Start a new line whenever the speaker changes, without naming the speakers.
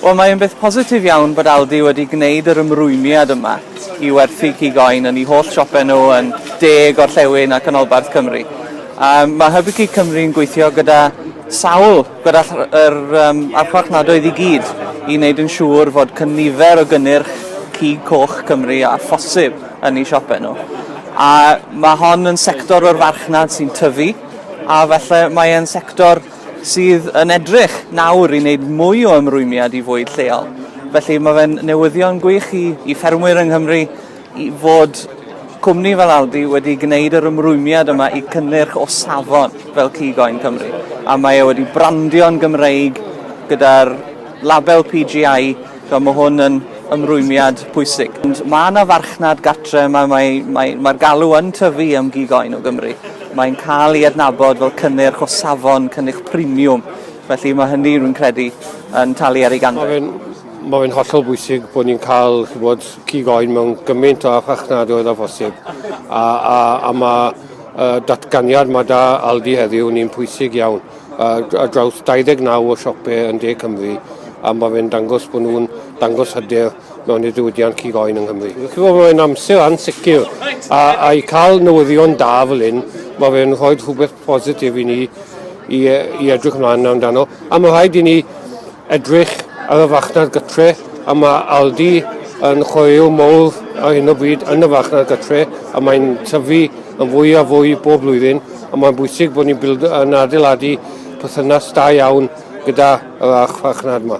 Wel, mae'n beth positif iawn bod Aldi wedi gwneud yr ymrwymiad yma i werthu cig oen yn eu holl siope nhw yn De, Gorllewin a Chanolbarth Cymru. Um, mae Hybu Cig Cymru yn gweithio gyda sawl, gyda yr um, archfarchnadoedd i gyd, i wneud yn siŵr fod cynifer o gynnyrch cig coch Cymru a phosib yn eu siope nhw. A mae hon yn sector o'r farchnad sy'n tyfu, a felly mae'n sector sydd yn edrych nawr i wneud mwy o ymrwymiad i fwyd lleol. Felly mae fe'n newyddion gwych i, i ffermwyr yng Nghymru i fod cwmni fel Aldi wedi gwneud yr ymrwymiad yma i cynnyrch o safon fel cig oen Cymru. A mae e wedi brandio'n Gymreig gyda'r label PGI So mae hwn yn ymrwymiad pwysig. Mae yna farchnad gatre, mae'r mae, mae, mae galw yn tyfu am gig oen o Gymru. Mae'n cael ei adnabod fel cynnyrch o safon, cynnyrch premium. Felly mae hynny, rwy'n credu, yn talu ar ei ganfed. Mae fe'n hollol
bwysig bod ni'n cael bod, cig oen mewn gymaint o farchnad oedd a phosib. A, a, a mae uh, datganiad mae da Aldi heddiw yn un pwysig iawn. ar draws 29 o siopau yn De Cymru a mae fe'n dangos bod nhw'n dangos hyder mewn i'r diwydiant cig oen yng Nghymru. Chibod, mae'n amser ansicr a, a i cael newyddion da fel hyn, mae fe'n rhoi rhywbeth positif i ni i, i edrych ymlaen amdano. A mae rhaid i ni Edrych ar y farchnad gytre, a mae Aldi yn chwaraeon mawr ar hyn o bryd yn y farchnad gytre, a mae'n tyfu yn fwy a fwy bob blwyddyn, a mae'n bwysig bod ni'n yn adeiladu perthynas da iawn gyda yr archfarchnad yma.